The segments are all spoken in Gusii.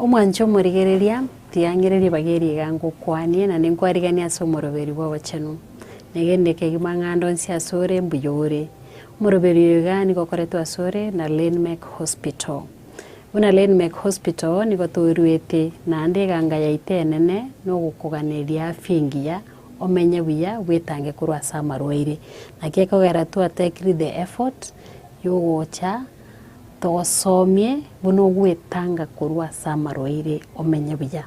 Omwanche omorigereria, tigang'ereria ebageri iga ngokwanie, na ninkwariganie ase omoroberi bw'obochenu. Na egento ekegima ng'anda onsi asore, mbuya ore. Omoroberi oyo iga nigo okoretwe asore na Lynn Mack Hospital. Buna Leinmec Hospital nigo toruete naende eganga yaito enene nogokoganeria afya engiya, omenye buya, bwetange korwa ase amarwaire. Naki ekogera twa take the effort yogocha togosomie buna ogwetanga korwa ase amarwaire omenye buya.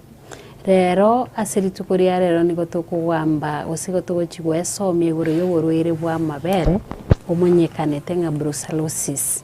Rero ase rituko ria rero nigo tokogamba gose nigo togochi goesomia igoro yoborwaire bwa amabere omonyekanete ng'a brucellosis.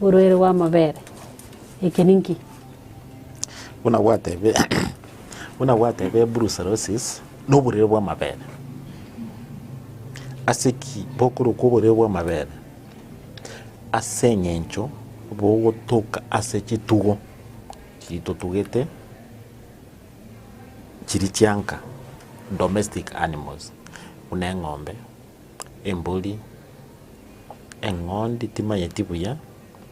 Orwere rw'amabere. Eke ninki? Buna gwatebire, buna gwatebire brucellosis noborwere bw'amabere. Ase ki bokorokwa oborwere bw'amabere? Ase eng'encho bogotoka ase chitugo chitotugete chiri chianka, domestic animals, buna eng'ombe. embori, eng'ondi timanyeti buya,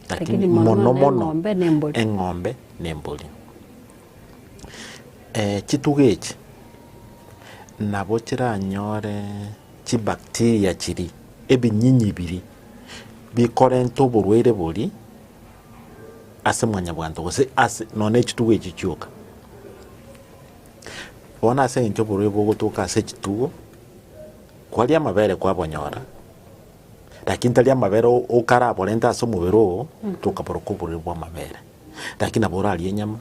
lakini Lakini mono mono mono eng'ombe na embori. eng'ombe na embori. Eh, chitugo echi nabo chiranyore chibacteria chiria, ebinyinyi biria bikorenta oborwaire boria ase mwanyabwanto gose ase nonya chitugo echi chioka. Bono ase eng'encho oborwaire bogotoka ase chitugo. Kwaria amabere kwabonyora, lakini tari amabere okaraborente ase omobere oo, tokaborokwa oborori bw'amabere. Lakini nabo orarie enyama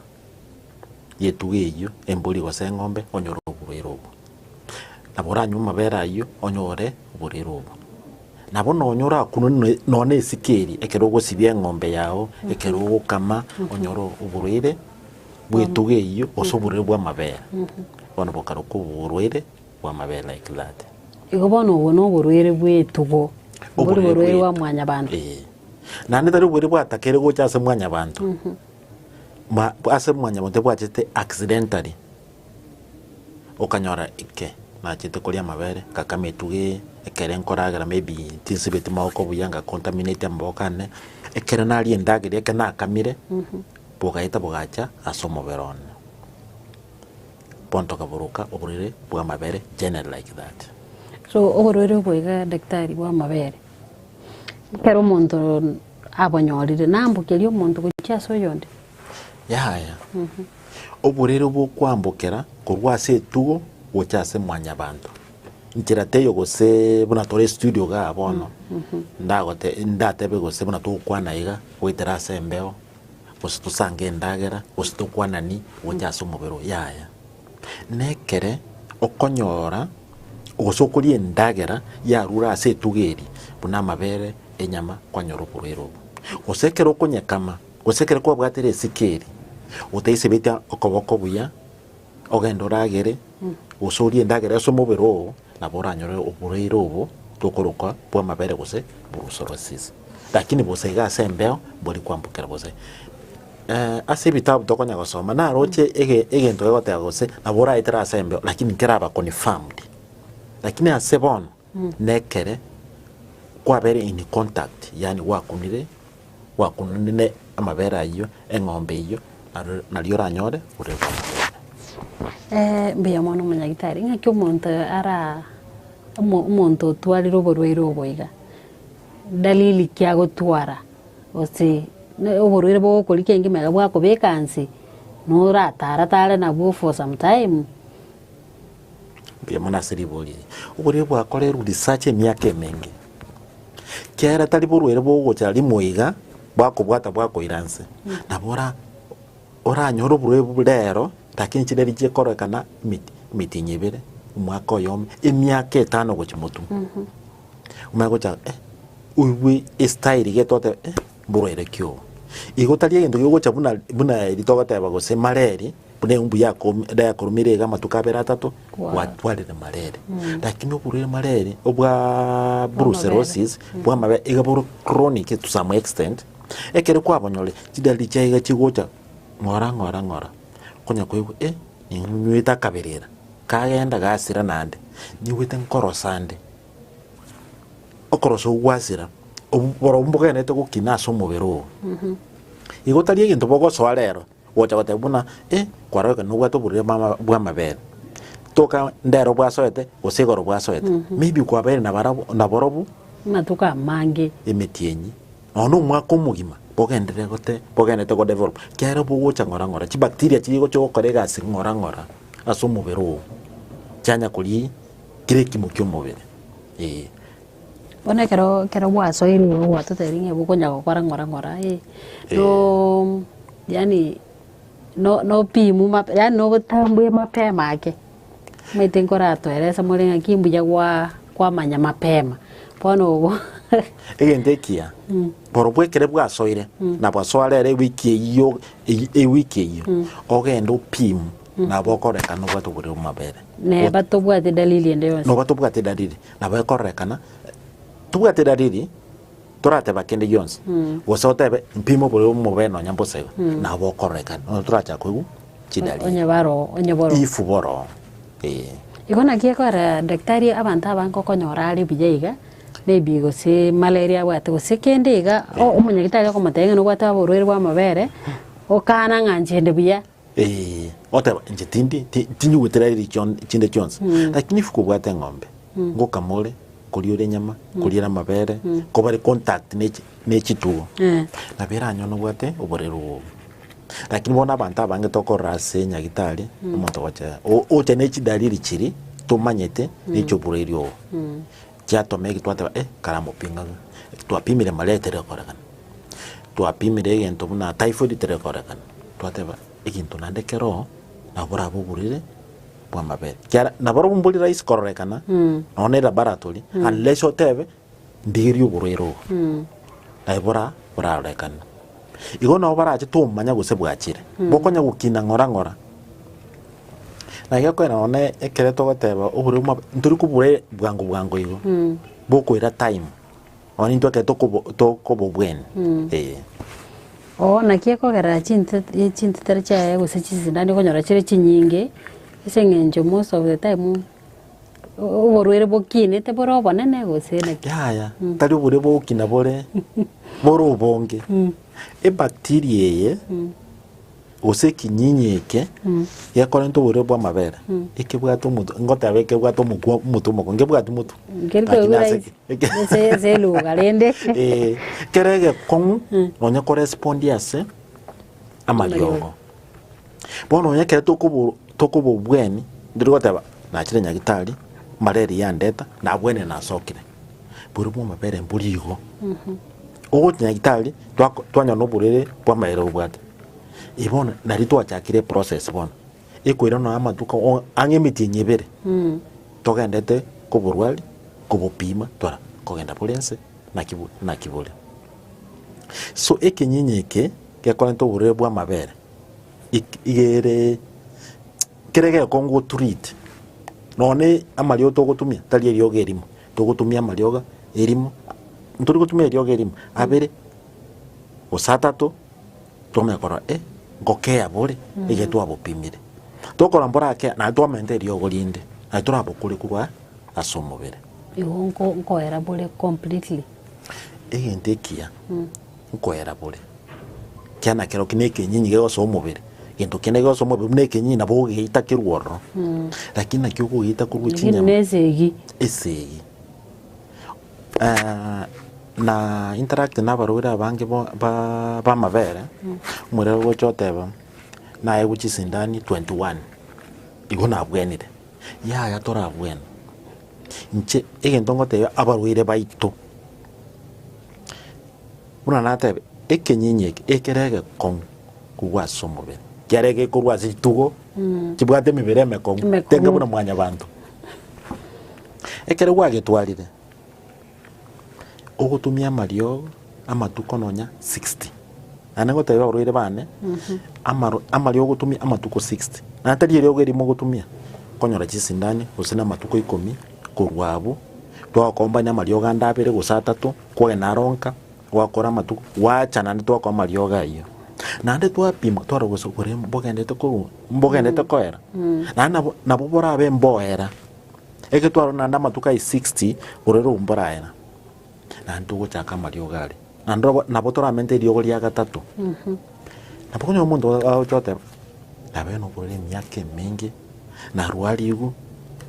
y'etuga eyio, embori gose eng'ombe, onyore oborwaire obwo. Nabo oranywe amabere ayio onyore oborwaire obwo. Nabo nonya orakunwe nonya- nonya na esike eria ekero ogosibia eng'ombe yao, ekero ogokama, onyore oborwaire bw'etuga eyio gose oborwaire bw'amabere. Bono bokarokwa oborwaire. bw'amabere like that. Igo bono obwo noborwere bw'etugo, mbori borwere bwa mwanyabanto. Ee. Naende tari oborwere bwatakeire gocha ase mwanyabanto. Mhm. Ma, ase mwanyabanto ebwachete accidentally. Okanyora ike, nachete koria amabere, ngakama etugo eye, ekere nkoragera maybe tinsibeti maboko buya, nga contaminate amaboko ane, ekero naria endagera eke nakamire, bogaeta bogacha ase omobere one. Bondo kaburuka oborwaire bw'amabere generally like that. So oborwaire obwo iga daktari bw'amabere ekero omonto abonyorire naambokeria omonto gochia ase oyonde? Yaya. Oborwaire obwo okoambokera korwa ase etugo gochia ase mwanyabanto. Nchera teiyo gose buna tore studio igaa bono, ndagote- ndatebe gose buna togokwana iga goetera ase embeo, gose tosange endagera, gose tokwanani gocha ase omobere oo, yaya. Na ekere okonyora gose okoria endagera yarure ase etuga eria, buna amabere, enyama, kwanyora oborwaire obwo. Gose ekero okonyekama, gose ekero kwabwatire esiko eria, otaisebetie okoboko buya. Ogende oragere, gose orie endagera ase omobere oo, nabo oranyore oboreire obo tokoroka bw'amabere gose brucellosis. Lakini bosa iga ase embeo mbori kwambokera gose eh, ase ebitabu tokonya gosoma naroche ege- egento gegoteba gose nabo oraetere ase embeo lakini nkeraba confirmed. Lakini ase bono Nekere kwabere in contact yaani gwakunire gwakunire ne amabere ayio eng'ombe eyio nario oranyore ore Mbuya mono omonyagitari, ng'aki omonto ara omonto otwarire oborwaire obo iga, dalili ki agotwara gose oborwaire bogokorigia engima iga bwakobeka nse, noratara tare nabwo for some time. Mbuya mono ase riboria eri. Oborwaire bwakorerwe research emiaka emenge. Kiagera tari borwaire bogocha rimo iga, bwakobwata bwakoira nse. Nabo ora, oranyore oborwaire obo rero, raki enchera eria chikororekana emit- emitinyi ebere, omwaka oyomo, emiaka etano gochia motumo. Omanye gocha eh, oigwe estyle iga etoteba eh. Mborwerekio. Igo tari egento giogocha buna buna eri togoteeba gose mareri buna eumbu yakom yakorumeire iga amatuko abere atato Kwa. gwatwarire mareri lakini oborwaire mareri obwa Bw'amabere. brucellosis bw'amabere iga bore chronic to some extent ekero kwabonyore chidaliri chiaye iga chigocha ng'ora ng'ora ng'ora okonya koigwa eh ninywete akaberera kagenda gasira nande nigwete nkorosa nde okorosa ogwasera obu- borobwo mbogenete gokina ase omobere oo igo tari egento bogosoa rero gocha goteba buna e kwaroreka nobwate oborwaire bwama- bwamabere toka ndero bwasoete gose igoro bwasoete maybe kwabeire nabarabwo naborobwo Amatuko amange. emetienyi nonye na omwaka omogima bogenderere gote bogenderete godevelop ekiagera bogocha ng'ora ng'ora chibacteria chiria chigocha gokora egasi ng'ora ng'ora ase omobere oo chianya kori Kera ekiimo ki'omobere, ee. Bono ekero ekero gwasoirwe igo gwatotebirie ng'a bokonya gokora ng'ora ng'ora ee, no yaani no nopimu mape yaani nogotambue mapema ake, omanyete nkoratoerese more ng'aki mbuya gwa kwamanya mapema, bono obo Egento ekiya, borobwo ekere bwasoire, nabo asoare ere ewiki eyio eyi ewiki eyio, ogende opimu nabo okorerekana nobwate oborere bw'amabere. Neba tobwati dalili ende yonsi. Noba tobwati dalili, nabo ekorerekana tobwati dalili torateba kende gionsi gose otebe mpime oborere bw'omobere nonya mbosa iga nabo okorerekana nonya torachaka koigwa chidalili. Onye baro onye boro. Ifu boro eh. Igo naki ekora daktari abanto abange okonyora are buya iga maybe gose malaria abwate gose kende iga o- omonyagitari okomotebia ng'a nobwate oborwaire bw'amabere okaana ng'a nchende buya Ee, goteba, inche tindi, ti- tinyigwetera eri chion- chinde chionsi, lakini ifu kobwate eng'ombe, ngokama ore, koria ore enyama, koria ere amabere, kobare contact ne chi- ne chitugo, Eh. nabo eranyore nobwate oborero obo. Lakini bono abanto abange tokorora ase nyagitari, omonto ogocha, o- ocha ne chidaliri chiria tomanyete ne chioborerio obo. Chiatoma eki twateba eh kara mopinga ng'a eki twapimire malaria teri gokorekana. Twapimire egento buna typhoid teri gokorekana, twateba egento naende keroo nabo borabe oborwaire bwa amabere. Kiara na barobwo mbori rahisi kororekana nonya na elaboratory unless otebe ndigirie oborwaire obo. Aye bora borarorekane. Igo nao barache tomanya gose bwachire bokonya gokina ng'ora ng'ora. Na iga kwena one ekere togoteba obure buma ntori kobure bwango bwango igo. Bokoira time. One intwe ekere tokobo tokobobweni. Eh. Oo naki ekogerera chinte e- chintete chiaye gose chisindani okonyora chire chinyinge ase eng'encho most of the time oborwaire bokiinete bore obonene gose naki? Yaya, Mm. tari oborwaire bogokina bore bore obonge. Mm. Ebacteria eye Mm. gose ekinyinyi eke Mm. gekorenta oborwaire bw'amabere Mm. ekebwate omotu ngoteba ekebwate omokwa omotu omoko ngebwati motu Nkeri Lakini koigwa ase- raisi. eke- Ase- ase eluga rende. Eh, kere egekong'u Mm. nonya korespondi ase amariogo Bono onye ekero tokobo tokobobweni, ndiri goteba, nachire nyagitari, mareri yandeta, nabwenerire nasokire. Boria bwa amabere mbori igo. Ogocha nyagitari, twako twanyora na oborere bwa amaere obwate. Eye bono nari twachakire eprocess bono, ekoira nonya amatuko o- ang'e emetienyi ebere, togendete koborwari, kobopima, twara kogenda bore ense, naki bo naki bore. So ekenyinyi eke gekorenta oborwaire bw'amabere igere kere gekongu otreat none amariogo togotumia tari eriogo erimo togotumia amariogo erimo ntori gotumia eriogo erimo abere gose atato twamanya korora eh ngoka eyabore eye twabopimire tokora mborake naye twamenta eriogo rinde naye torabokore korwa ase omobere. Igo nkoera bore completely. Egento ekiya nkoera bore, ekiya nakero ki nekenyinyi gegosoa omobere, gento kende gegosoa omobere buna ekenyinyi nabo ogeita kerwe ororo, lakini naki okogeita korwa Lakini chinyama nesegi. esegi na interact na abarwaire abange bo- ba- bamabere omorero ogocha oteba naewu chisindani 21 igo nabwenire yaya torabwene. Inche egento ngotebia abarwaire baito, buna natebe ekenyinyi eke ekero egekong'u korwa ase omobere, ekiagera ekero ekorwa ase ritugo kebwate emebere emekong'u, Emekong'u. tenge buna mwanyabanto. Ekero gwagetwarire. ogotumia amariogo amatuko nonya sixty, naende ngotebie abarwaire baane, amaro amariogo ogotumia amatuko sixty, naende tari eriogo erimo ogotumia, okonyora chisindani gose na amatuko ikomi korwa abwo, twakombania amariogo ande abere gose atato, kwogenda aro nka, gwakora amatuko, gwacha naende twakora amariogo ayio. Naende twapima twarora gose okore mbogenderete korwa mbogenderete koera, naende nabo nabo borabe mboera. Egetwaro naende amatuko aye 60 borere omboraera, naende togochaka amariogo aria, naende nabo nabo toramente eriogo ria gatato. Nabo okonyora omonto agocha goteba, nabeire noborwaire emiaka emenge, narwarigwe,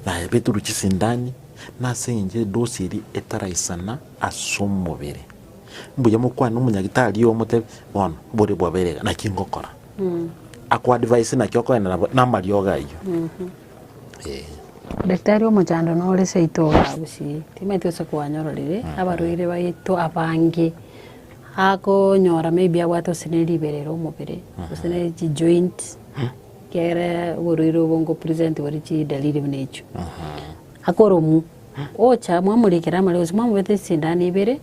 nabetirwe chisindani, nase eng'encho edosi eria etaraisana ase omobere. Mbuya mokwane omonyagitari oo omotebi, bono bore bwabeire iga, naki ngokora? Akuadvise naki okoenera bo- namariogo ayio. Ee. Daktari omochando nore seito oragusie, timanyeti gose kwanyororire abarwaire baito abange, akonyora maybe abwate gose ne riberero omobere, gose ne chi joint, kere oborwaire obo ngo present bore chidaliri buna echio, akoromwa, ocha mwamorikere amariga gose mwamobeta esindano ibere,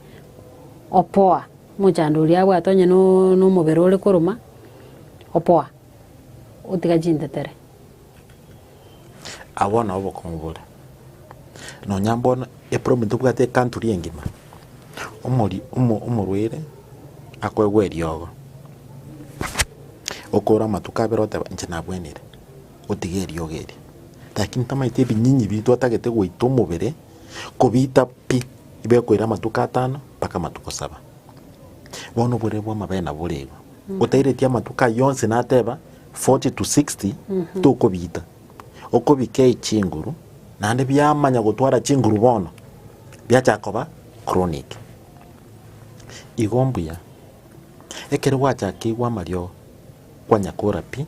opoa, omochando oria abwate onye no nomobere ore koroma, opoa, otiga chintetere. Agwo nao obokong'u bore. Nonya bono eprobem tobwate ekanturi engima, omori omo omorwaire akoegwa eriogo, okore amatuko abere oteba inche nabwenire, otiga eriogo erio. Lakini tamaete ebinyinyi bi twatagete goita omobere, kobiita pi, ibe ekoira amatuko atano mpaka amatuko saba. Bono obore bwa amabere nabo bore igo. Otaireti amatuko ayio onsi nateba, 40 to 60 tokobita okobikei chinguru naende biamanya gotwara chinguru bono biacha koba chronic igo mbuya ekero gwacha keigwa amario kwanya kora pi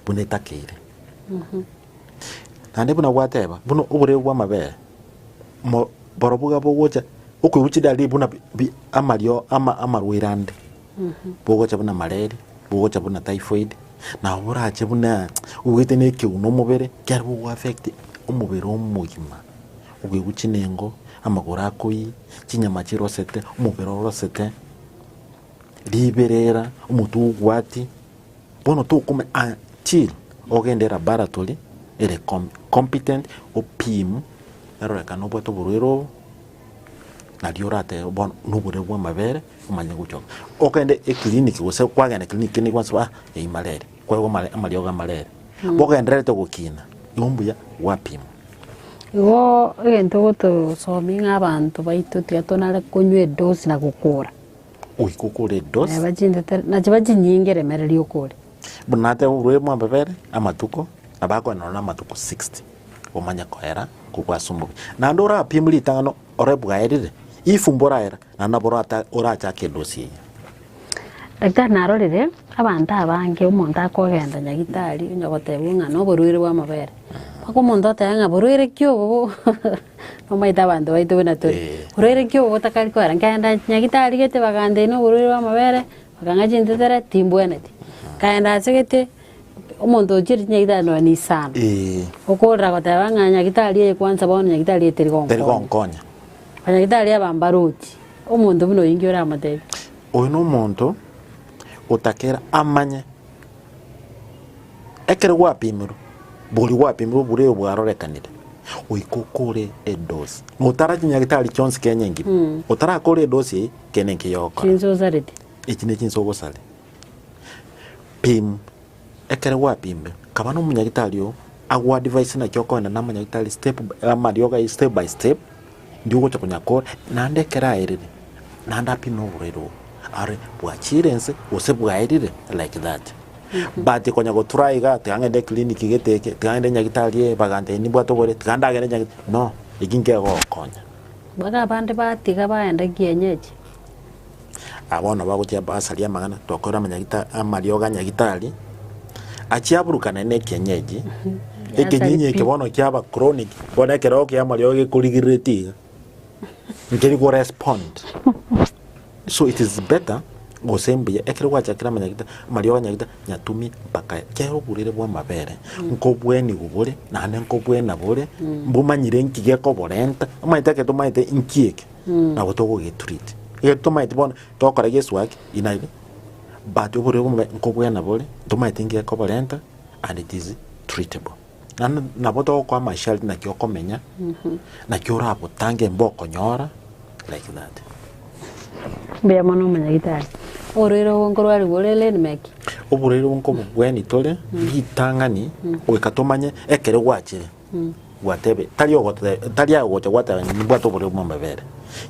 buna etakeire naende buna gwateba buna oboreo bwa amabere mo- borobwo iga bogocha okoigwa chidalili buna bi- bi- amario ama- amarwaire ande bogocha buna mareri, bogocha buna typhoid, nabo borache buna obwate na ekeguna omobere, ekiagera bogo affect omobere omogima, ogoigwa chinengo, amagoro akoyi, chinyama chirosete, omobere orosete, riberera, omotwe obwati, bono tokomanya until ogende elabaratory ere com- competent opimwe erorekane obwate oborwaire obo, Nario oratebe bono noborwaire bw'amabere omanye gochia ogende eclinic gose kwagenda clinic kende nigo okwansa ah eyio marere kwarwa amare amariogo amarere bogendererete gokina igo mbuya gwapimwa. Igo egento gotosomia ng'a abanto baito tiga tonyare konywa edosi na gokora. Goika okore edosi. Naye bachindete na chiba chinyinge remereria okore. Buna natebe oborwaire bw'amabere amatuko nabo akoenda nonye na amatuko sixty. omanye koera kobua ase omobe. Naende orapimu ritang'ani ore bwaerire, if mboraera, naende nabo orata- orachake edosi eye. Daktari narorire abanto abange, omonto akogenda nyagitari onya gotebiwa ng'a na oborwaire bw'amabere, mpaka omonto oteba ng'a borwaire ki obo bo nomanyete abanto baito buna tore, Eh. borwaire ki obo botakari koera, nkagenda nyagitari gete bagantebi na oborwaire bw'amabere. Akang'a chintetera timbweneti. Akaenda achegete omonto ochie rinyaga ithano na magana isano. Ee. Okorora goteba ng'a nyagitari eye kwanza bono nyagitari eye teri gonkonya. Teri gonkonya. Banyagitari aba mbarochi. Omonto buna oyio inki oramotebi? Oyo nomonto otakera amanye ekero gwapimirwe boria gwapimirwe bure oyo bwarorekanire goika okore edosi. Notara chinyagitari chionsi Kenya engima. Otarakore edosi eye. Kei nenki yogokora? Chinse osarete. Echi nechinse ogosare. Pim. Ekero gwapimire, kaba nomonyagitari oo agoadvise naki okoenda namanyagitari step by amariogo ayio step by step, ndi ogocha konya kore, naende ekero aerire, naende apime oborwaire obo, arore bwachire ense gose bwaerire like that. But konya gotura iga, tiga ng'ende eclinic gete eke, tiga ng'ende nyagitari ee, bagantebia nibwate oborwaire, tiga ndagere nyagitari, no, eki nkegogokonya. Baria abande batiga baenda kienyeji. Aya bono bagochia basaria amang'ana, tokore amanyagita- amariogo a nyagitari achia aburukanane na ekienyeji. Ekenyinyi eke bono kiaba chronic, bono ekero okia amariogo gekorigireretie iga, nkeri korespond. So it is better gose mbuya ekero gwachakire amanyagita amariogo anyagita nyatumi mpaka aya. Kera oburire bwa amabere nkobwenigu bore naende nkobwena bore mbumanyire nki gekoborenta omanyete ekero tomanyete nki eke nabo togogetreat ekero tomanyeti bono tokora gesu gaki inaki but oborire bwa omobere nkobwena bore ntomanyeti nki gekoborenta and it is treatable. Naende nabo togokoa masharti naki okomenya, naki orabotange mbe okonyora like that. Mbuya mono omonyagitari. Oborwaire obwo nkorwarigwe ore Ledmark. Oborwaire obwo nkobogwenie tore ritang'ani goika tomanye ekero gwachire gwatebe tari ogote tari aye ogocha gwateba ng'a nibwate oborwaire bwa amabere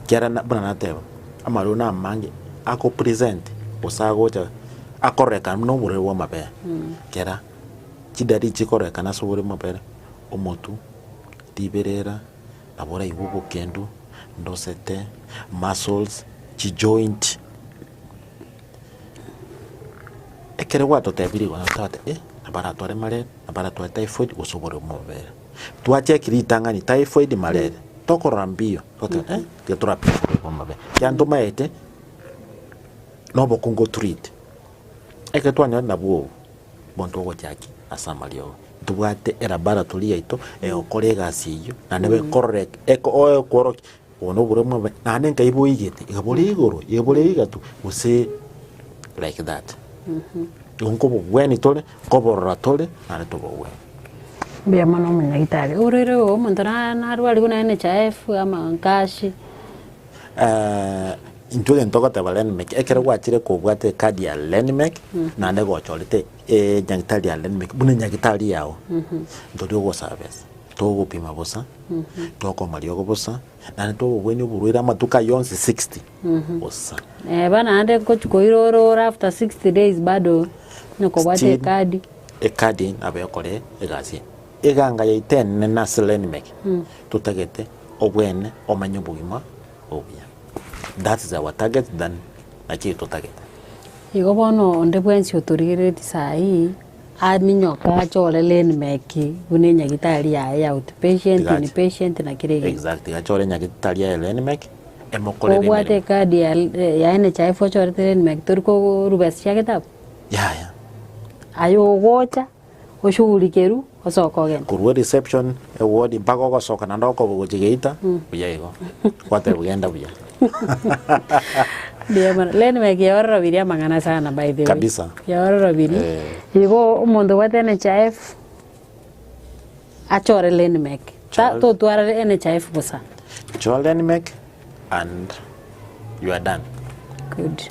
kiara na buna nateba amarwaire na amange akopresent gose agocha akororeka noborwaire bwa amabere kera. Chidari echi chikorekana ase obore mobere, omotu, riberera, nabo oraigwe obokendu, ndosete, muscles, chijoint. Ekero gwatotebirie igo naende twabate eh, nabo aratware malaria, nabo aratware typhoid gose obore bwa omobere. Twacheki ritang'ani typhoid, malaria, tokorora mbiyo twabate eh, tiga torapime obore bwa omobere, ekiagera tomaete na obokungu o treat. Ekero twanyorire nabwo obwo, Monto ogochaki ase amariogo. Ntobwate elabaratory yaito egokora egasi eyio naende bekorora eke oekworokia obo noborwamu bwa omobere naende nkai boigete iga bore igoro iga bore igatu gose like that igo nkobogwenia tore nkoborora tore naende tobogwenia. Mbuya mono omonyagitari. Orere oo omonto narwarigwe naende ne chaefu ama nkashi. Eh, intwe egento togoteba Lenmec, ekero gwachire kobwate ekadi ya Lenmec, naende gochorete enyagitari ya Lenmec buna enyagitari yao, ntori ogosaa besa, togopima bosa, tokoma riogo bosa, naende togokwania oborwaire amatuko ayio onsi 60 bosa. Eh, bono naende gochi koirora ore after 60 days bado nokobwate Still, ekadi. ekadi nabo ekore egasi eye. Eganga yaitenene nase Lenimeki totagete obwene omanye obogima obuya that is our target than nachiri totagete. Igo bono onde bwensi otorigereretie sahi aminyoke ache ore Lenimeki buna enyagitari yaye ya outpatient, Tiga ache. inpatient na kera egento. Exactly ache ore enyagitari yaye Lenimeki emokorere Obwate emeremo. ekadi ya ya NHIF ochorete Lenimeki tori koruba ase chia getabu? Yaya. Aye ogocha. oshughulikerwe osoke ogende. Korwa reception, ewodi, mpaka ogosoka naende okoba gochia geita, buya igo. Gwatebwa genda buya. Buya mono. Lenmark ya ororobirie amang'ana sana by the way. Kabisa. Ya ororobirie. Eh. Igo omonto obwate NHIF achore Lenmark. Ta Chore. totwara NHIF bosa. Chore Lenmark, and you are done. Good.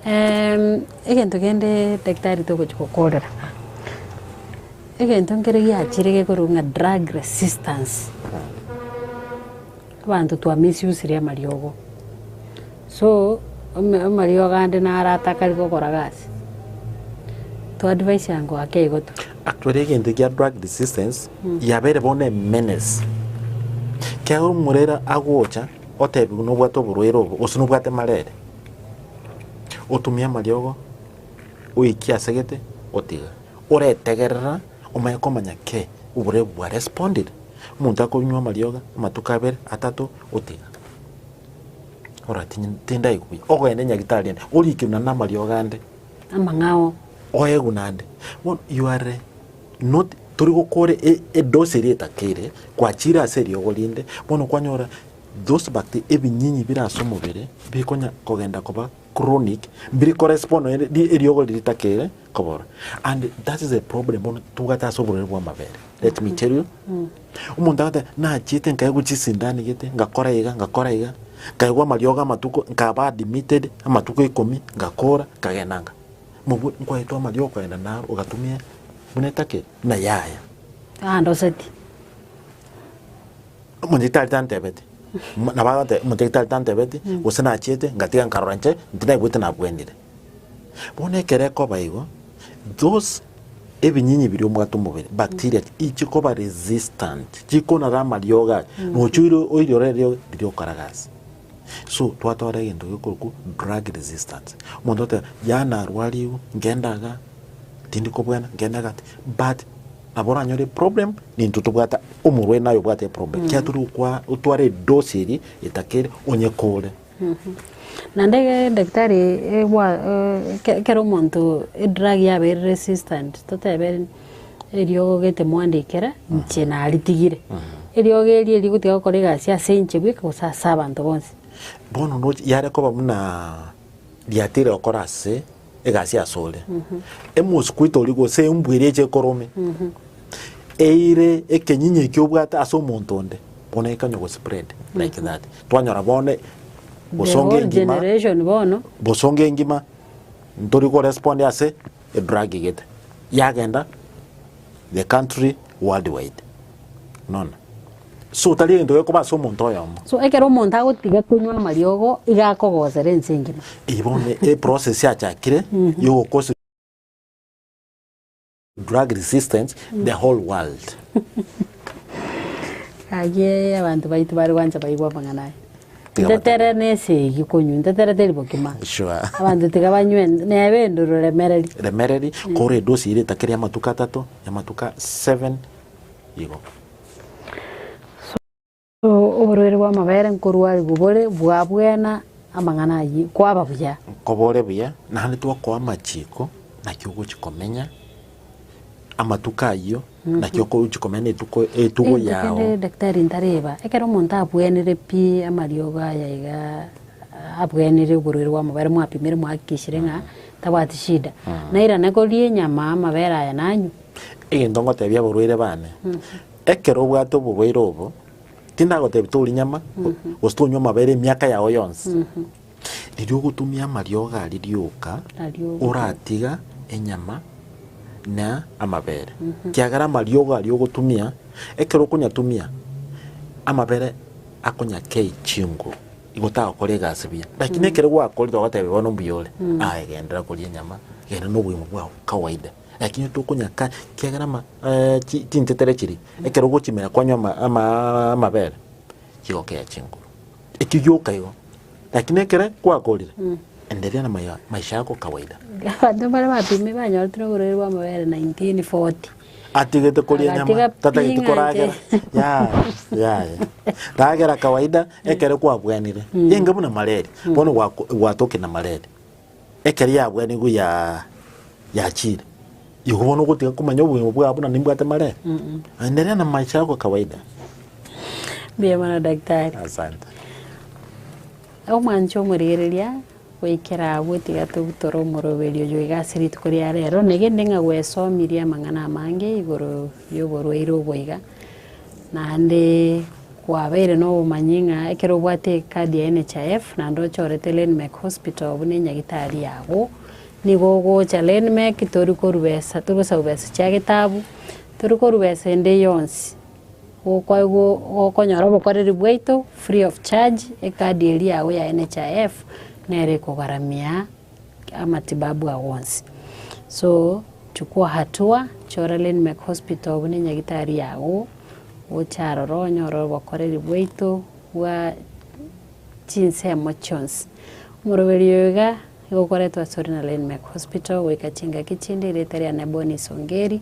Em, egento kende daktari togochi gokorera. Egento nkere giachire gekorwa ng'a drug resistance. Abanto twa misusirie amariogo. So, ome- amariogo ande narataka rigo okora gasi. To advise ango ake igo to. Actually egento ekia drug resistance yabeire bono emenace. Ekiagera omorero agocha otebiwe nobwate oborwaire obo gose nobwate malaria, otumie amariogo oikie ase gete otiga. Oretegerera omanye komanya kei oborwaire obwo bwa responded. Omonto akonywa amariogo amatuko abere, atato otiga. Oratinye tindaigwe, ogende nyagitari ore orikerwe nande amariogo ande. amang'ao. Oegwe naende. Bono you are not tori gokore e- edose eria etake ere kwachire ase eriogo rinde bono kwanyora those bacte ebinyinyi bire ase omobere bikonya kogenda koba chronic biri kores bono ere- ri- eriogo riri ritake ere kobora and that is a problem bono tugate ase oborwaire bw'amabere let me tell you Omonto agateba, nachiete nkaegwa chisindanigete, ngakora iga, ngakora iga, nkaegwa amariogo amatuko, nkaba admitted amatuko ikomi, ngakora, nkagenda nga. Mobwe, nkwaetwa amariogo okagenda naro, ogatumia buna etake, buna yaya. Andoseti. Omonto tari tantebeti. Nabo agoteba, omonto tari tantebeti, gose nachiete, ngatiga nkarora inche, inche naigwete nabwenire. Bono ekero ekoba igo, those ebinyinyi biria omwate omobere, bacteria, inche koba resistant, chikonara amariogo aye, nocha oire oire ore eriogo riria okaraga ase. So twatwara egento gekorokwo drug resistance. Omonto oteba yaya narwariwu, ngende iga, tindi kobwena, ngende iga, but nabo oranyore eproblem nintwe tobwate omorwaire naye obwate eproblem, ekiagera tore gokwa otware edose eria etakere onye kore. Naende edaktari ekero omonto edrag yabaire resistant totebe eriogo gete mwandikere inche naritigire, eriogo erio erigotiga gokora egasi ase inche bweka gose ase abanto bonsi. Bono yare koba buna riatire gokora ase egasi asore, emosi kwaito oria gose embwa eria eche ekorome, eire ekenyinyi ekio obwate ase omonto onde, bono ekanya go spread like that. Twanyora bono The bosonge whole engima, generation bono. bosonge engima, ntori ko respond ase edrug gete, yagenda The country worldwide. Mwaona? So tari egento gekoba ase omonto oyomo. So ekero omonto agotiga konywa amariogo iga akogosera ense engima. Eye bono e process yachakire ya ogokosi drug resistance the whole world. Gaki abanto baito bare gwancha baigwe amang'ana aya. Tiga batebe. Ntetere nese eyio konywa, ntetere teri bokima. Sure. Abanto tiga banywe en- nebe enduru remereri. remereri kora edosi ere etake ri'amatuko atato amatuko 7 igo So oborwaire bw'amabere nkorwa aria bobore bwabwena amang'ana ayio kwaba buya. nkobore buya naende twakoa amachiko naki ogochi komenya amatuko ayio, naki okochia komenya na etuko, etugo Egento yao. kende daktari ntareba, ekero omonto abwenire pi amariogo aya iga ah, abwenire oborwaire bwa amabere mwapimire mwahakikishire ng'a tabwati shida, nairane koria enyama amabere aya nanywe. Egento ngotebia aborwaire bane, ekero obwate oborwaire obo, tindagotebi toria nyama, gose tonywa amabere emiaka yao yonsi, Erio ogotumia amariogo aria rioka, oratiga enyama na amabere, ekiagera amariogo aria ogotumia, ekero okonyatumia, amabere akonyakei chinguru, igo tagokora egasi buya. Lakini ekero gwakorire ogotebiwa bono mbuya ore, aye genderera koria enyama, genda na obogima bwao kawaida. Lakini tokonyaka ekiagera ama eh chi chinchetere chiria, ekero ogochimera kwanywa ama amaaa amabere, chigokea chinguru. Ekio gioka igo. Lakini ekere gwakorire, enderea na maya- maisha yako kawaida. Abanto mbare batume banyoretwe na oborwaire bw'amabere 1940. Atigete koria Agatiga nyama, tatagete ping'anche. koragera. Yaya, yaya. Ragera kawaida ekero kwabwenire. Genge buna malaria. Bono gwako- gwatoki na malaria. Ekero yabwenigwe ya yachiire, igo bono ogotiga komanya obogima bwao buna nimbwate maree? Endelea na maisha yako kawaida. Mbuya mono daktari. Asante. Omwanche omorigereria goikera abwo tiga togutore omoroberi oyo iga ase rituko ria rero, negende ng'a gwesomirie amang'ana amange igoro yoborwaire obo iga. Naende kwabeire nobomanyie ng'a ekero obwate ekadi ya NHIF naende ochorete Lenmec Hospital buna enyagitari yabo, nigo ogocha Lenmec tori korwa besa, tori gosaba besa chia getabu, tori korwa besa ende yonsi, gokwa go gokonyora obokoreri bwaito free of charge, ekadi eria yago ya NHIF nere ekogaramia. amatibabu ao onsi. So chukua hatua, chora Lynmec Hospital buna enyagitari yago, gocha aroro onyore obokoreri bwaito bwa chinsemo chionsi. Omoroberio oyo iga igokoretwe asore na Lynmec Hospital goika chingaki chinde, erieta riane Bonny Songeri,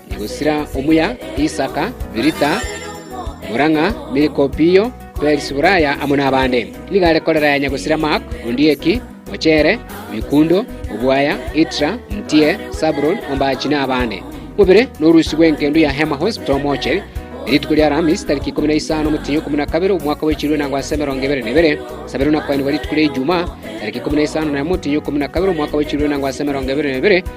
na gosira omuya Isaka, Birita, Morang'a, Milko, Piyo, Perisi, Buraya, amo nabande. Nigo are korera ya nyagosira Mark, Ondieki, Ochere, Mikundo, Obwaya, Itra, Mtie, Sabron, Ombachi, na abande. Mobere norusi bw'enkendo ya Hema Hospital Moche, rituko ria Alhamis tariki ikomi na isano omotienyi okumi na kabere omwaka bwechirwe na gwasa emerongo ebere na ebere sabere onakoenigwa rituko ria Ijumaa tariki ikomi na isano na emo omotienyi okumi na kabere omwaka bwechirwe na gwasa emerongo ebere na ebere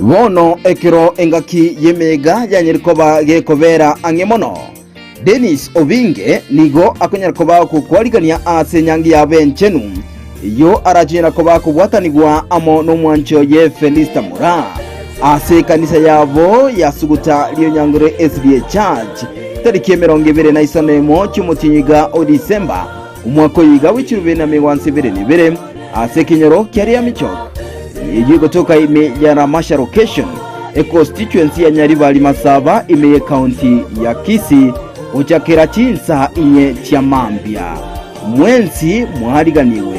Bono ekero engaki y'emeega yanyare koba gekobeera ang'e mono, Dennis Obinge nigo akonyara koba gokwarigania ase Enyangi Yabo Enchenu, eyio arachonyara koba kobwatanigwa amo n'omwancho ye Felista Mura, ase ekanisa yabo ya Suguta Rionyangore SDA Church, tariki emerongo ebere na isano emo chi'omotienyi iga o December, Omwaka oyo iga bwe chirube na migwanso ebere na ebere ase ekenyoro kia Riamichok. Eyio egotoka ime ya Ramasha Location, econstituency ya Nyaribari Masaba ime ye county ya Kisii gochakera chinsa inye chia mambia. Mwensi mwariganigwe.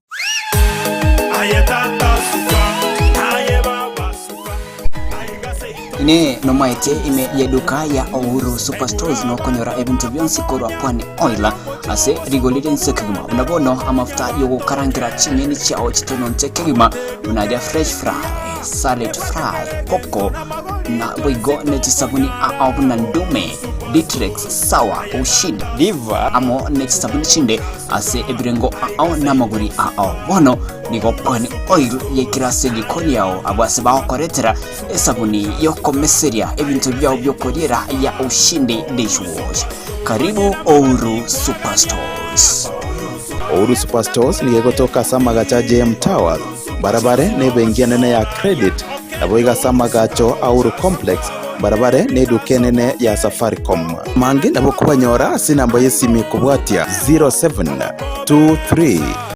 Aye Tata suka, aye Baba suka, aiga seito Inee, nomanyete ime y'eduka ya Uhuru Superstores nokonyora ebinto bionsi korwa Pwani Oil ase rigori rinse kegima buna bono amafuta y'ogokarangera ching'eni chiao chitononte kegima buna aria fresh fry, salad fry, popco na boigo ne chisabuni ao buna Ndume, Ditrex, Sawa, Ushid, Diva amo ne chisabuni chinde ase ebirengo ao namagori ao. Bono nigo okwane oil yaikire ase riko riao, abwo ase bagokoretera esabuni yokomeseria ebinto biao biokoriera ya Ushindi Dishwash. Karibu Ouru Superstores. Ouru Superstores nigo egotoka ase amagacha JM Towers mbarabare n'ebenki enene ya Credit, naboigo ase amagacho a Uhuru Complex, mbarabare n'eduka enene ya Safaricom. Amange nabo kobanyora ase enamba y'esimi kobwatia 0723.